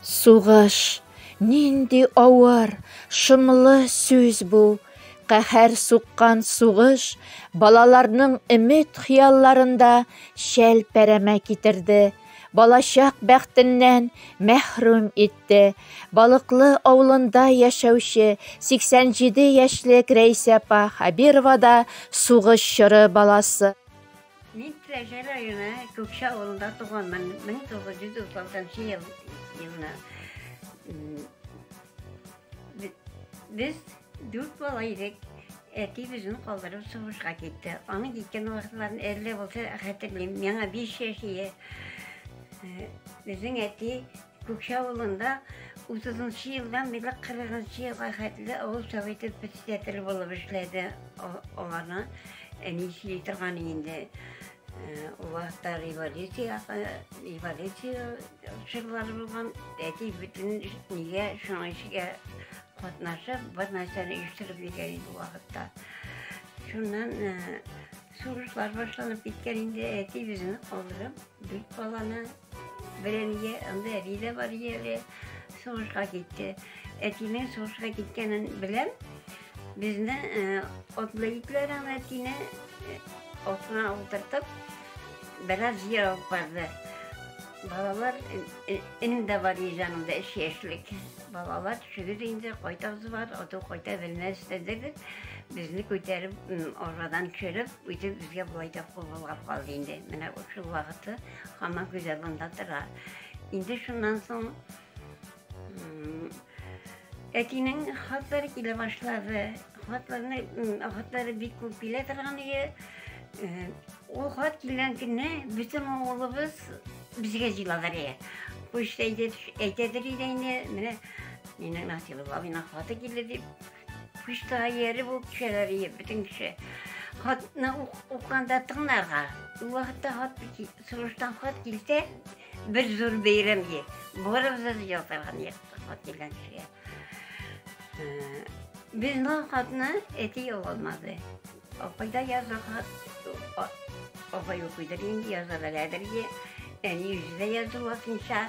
Сугыш, нинди авыр, шомлы сүз бу. Каһәр суккан сугыш балаларның өмет хыялларында шәл пәрәмә китерде. Балачак бәхтеннән мәхрүм итте. Балыклы авылында яшәүче 87 яшьлек Рәйсә апа Хабирова да сугыш чоры баласы. Мин Теләче районы Күкче авылында туганмын. 1936 ел елына. Без дүрт бала идек. Әти безне калдырып сугышка китте. Аның киткән вакытларын әллә булса хәтерлим. Миңа 5 яшь ие. Безнең әти Күкче авылында 30 нчы елдан бирле 40 нчы елга хәтле авыл советы председателе булып эшләде аларны әни сөйли торган инде ул вакытта революция революция чорлары булган әти бөтен нигә шуңа эшкә катнашып бер нәрсәне оештырып йөргән инде вакытта шуннан сугышлар башланып киткән инде әти үзен калдырып дүрт баланы Берәние анда әби дә бар иде әле, сугышка китте. Әтинең сугышка киткәнен беләм. Безне отлы э, итләрен әтине э, отына утыртып, бераз җир алып барды. Балалар, э, энем дә бар иде янымда, өч яшьлек. Балалар төшегез инде, кайтасы бар, оту кайта белмәс дедек. Безне күтәреп, арбадан төшереп, үтеп безгә болай да куллап калды инде. Менә шул вакыты Хамак гүзәл монда тора. Инде шуннан соң әтинең хатлары килә башлады. Хатларны хатлары бик күп килә торган иде. Э, ул хат килгән көнне бөтен авылыбыз безгә җыйладылар иде. Почта әйтәдер иде инде, менә мине Насыйбуллабина хаты килде дип. Почтага ияреп үк төшәләр ие бөтен кеше. Хатны укыганда тыңларга. Ул вакытта хат сулыштан хат килсә, бер зур бәйрәм ие. Барыбыз да ялтырган ие хат килгән кешегә. Э, Безнең хатны әти ала алмады. Апай да язырга, апай укыйдыр инде, яза беләдер инде. Әни үзе дә язу вакытынча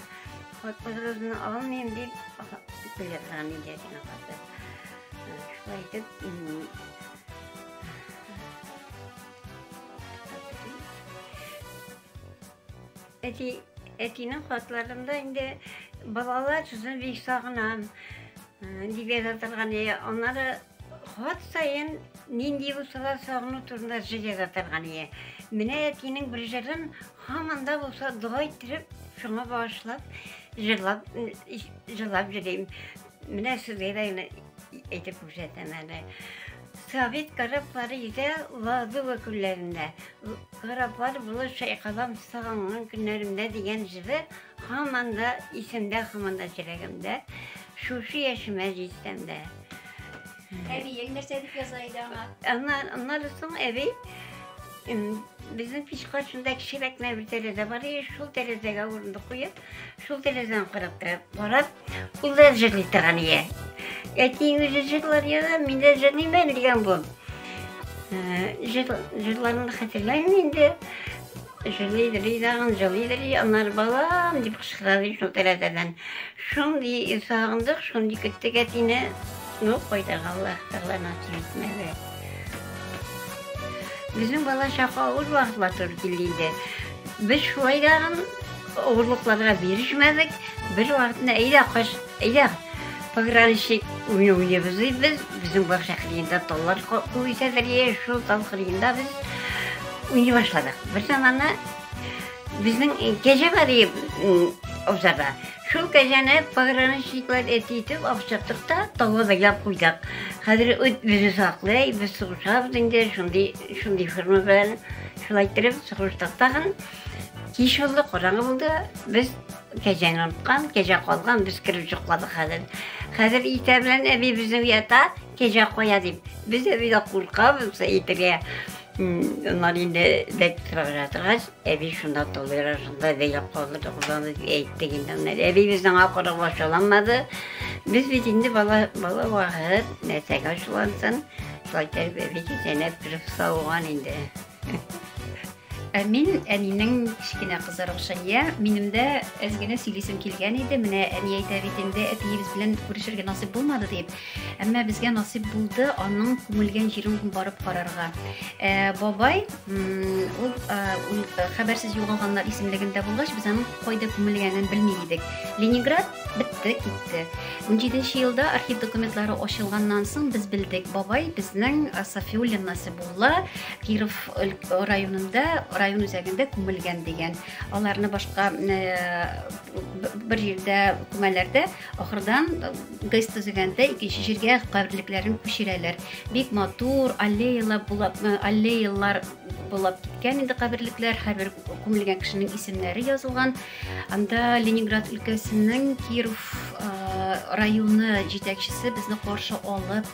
хатпазрызны алмыйм дип белгән инде әтине хаты. Шулай итеп, Әти, әтинең хатларында инде балалар сүзен бик сагынам дип яза торган. Аннары хат саен нинди булса да сагыну турында җыр яза торган. Менә әтинең бер җырын һаман да булса дога иттереп, шуңа багышлап җырлап җырлап йөрим. Менә сезгә дә генә әйтеп күрсәтәм әле. Совет кораблары йөзә Ладога күлләрендә. Кораблар булып чайкалам сагынган көннәремдә дигән җыры һаман да исемдә, һаман да йөрәгемдә. Шушы яшемә җитсәм дә. Әбиең нәрсә дип яза иде аңа? Ана, аннары соң әби безнең пич каршында кечерәк нәбер тәрәзә бар иде, шул тәрәзәгә урындык куеп, Шул телевизорны карап торып, карап, ул да җырлый торган ие. Әти үзе җырлар яра, мин дә җырлыймын дигән бу. Җырларын хәтерләмим инде. Җырлый җырлый дагын җырлый җырлый, аннары балам дип кычкырады шул тәрәзәдән. Шундый сагындык, шундый көттек әтине. Ну, кайда Аллаһ Тәгалә насыйп итмәде. Безнең балачак авыр вакытлар туры килде инде. Без шулай дагын Авырлыкларга бирешмәдек, бер вакытны әйдә кач, әйдә пограничник уйны уйнайбыз ди без, безнең бакча кырыенда таллар үсәдер, шул тал кырыенда без уйный башладык. Бер заманда безнең кәҗә бар ди абзарда. Шул кәҗәне пограничниклар әти итеп акчаттык та талга бәйләп куйдык. Хәзер үт безне саклый, без сугышабыз инде, шундый шундый форма белән шулай иттереп сугыштык тагын. Кич булды, караңгы булды. Без кәҗәне оныткан, кәҗә калган, без кереп йокладык хәзер. Хәзер иртә белән әби безне уята, кәҗә кая дип. Без әбидә куркабыз әйтергә. Аннан инде бәк торырга торгач, әби шунда толыра, шунда бәйләп калды, кызларны әйтте инде. Аннан әби безнең акырып ачуланмады. Без бит инде бала бала вакыт, нәрсәгә ачулансын. Шулай итеп әби кәҗәне кереп сауган инде. Ә мин әнинең кечкенә кызы Рушания. Минем дә әз генә сөйлисем килгән иде. Менә әни әйтә бит инде, әтиебез белән күрешергә насыйп булмады дип. Әмма безгә насыйп булды аның күмелгән җирен барып карарга. Ә, бабай, ул хәбәрсез югалганнар исемлегендә булгач, без аның кайда күмелгәнен белми идек. Ленинград бетте, китте. 17 елда архив документлары ачылганнан соң без белдек, бабай безнең Сафиуллин Насибулла Киров районында, район үзәгендә күмелгән дигән. Аларны башка бер җирдә күмәләрдә, ахырдан гыз төзегәндә икенче җиргә каберлекләрен күчерәләр. Бик матур аллеялар булып, аллеялар булып киткән инде каберлекләр, һәрбер күмелгән кешенең исемнәре язылган. Анда Ленинград өлкәсенең Киров районы җитәкчесе безне каршы алып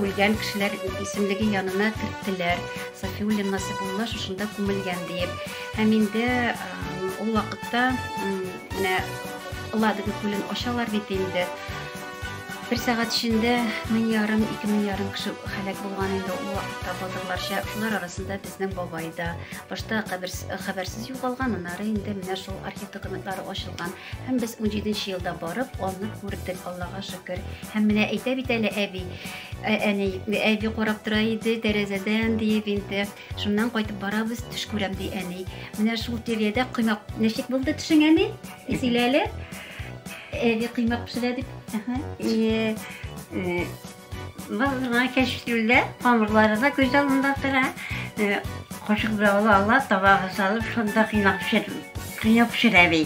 Үлгән кешеләр исемлеге янына керттеләр. Сафиуллин Насыйбулла шушында күмелгән диеп. Һәм инде ул вакытта менә Ладога күлен ачалар бит инде. Бер сәгать эчендә мең ярым, ике мең ярым кеше һәлак булган инде ул вакытта батырларча. Шулар арасында безнең бабай да. Башта хәбәрсез югалган, аннары инде менә шул архив документлары ачылган. Һәм без 17 нче елда барып, аны күрдек, Аллага шөкер. Һәм менә әйтә бит әле әби, ә, әни, әби карап тора иде тәрәзәдән диеп инде. Шуннан кайтып барабыз, төш күрәм ди әни. Менә шул тирәдә коймак ничек булды төшең әни? Сөйлә әле. Әби коймак пешерә дип. Әһә. Э, э, Базына кәшфилдә, камырлары да күз алдында тора. Кашык белән ала ала, табага салып, шунда кыйнап пешер, кыйнап пешерә би.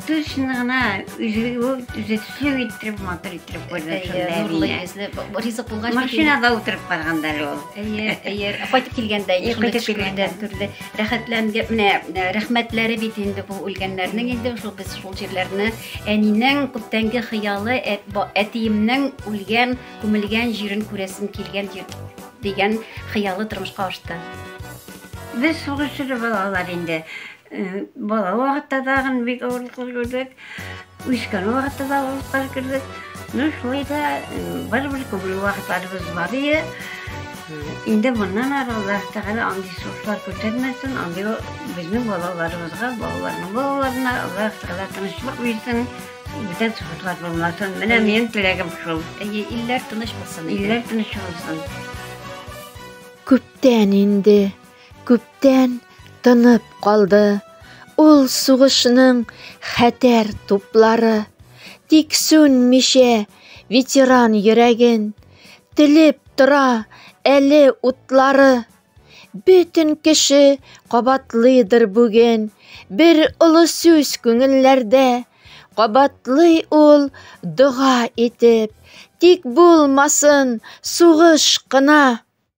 Тушны гына үзе үзе төсле иттереп, матур иттереп күрде шунда әбине. Йөзле, ризык булгач, машинада утырып барганда ул. Әйе, әйе. Кайтып килгәндә, кайтып килгәндә төрле рәхәтләнде. Менә рәхмәтләре бит инде бу үлгәннәрнең инде шул без шул җирләрне Әнинең күптәнге хыялы әтиемнең үлгән, күмелгән җирен күрәсем килгән дигән хыялы тормышка ашты. Без сугыш чоры балалар инде. Бала вакытта тагын бик авырлыклар күрдек. Үскән вакытта да авырлыклар күрдек. Ну, шулай да барыбер күңел вакытларыбыз бар иде. Инде моннан ары Аллаһ Тәгалә андый сугышлар күтәрмәсен, андый безнең балаларыбызга, балаларның балаларына Аллаһ Тәгалә тынычлык бирсен, бүтән сугышлар булмасын. Менә минем теләгем шул. Әйе, илләр тыныч булсын. Илләр тыныч булсын. Күптән инде, күптән тынып калды. Ул сугышның хәтәр туплары. Тик сүнмичә ветеран йөрәген. Телеп тора әле утлары. Бөтен кеше кабатлыйдыр бүген бер олы сүз күңелләрдә. Кабатлый ул дога итеп, тик булмасын сугыш кына.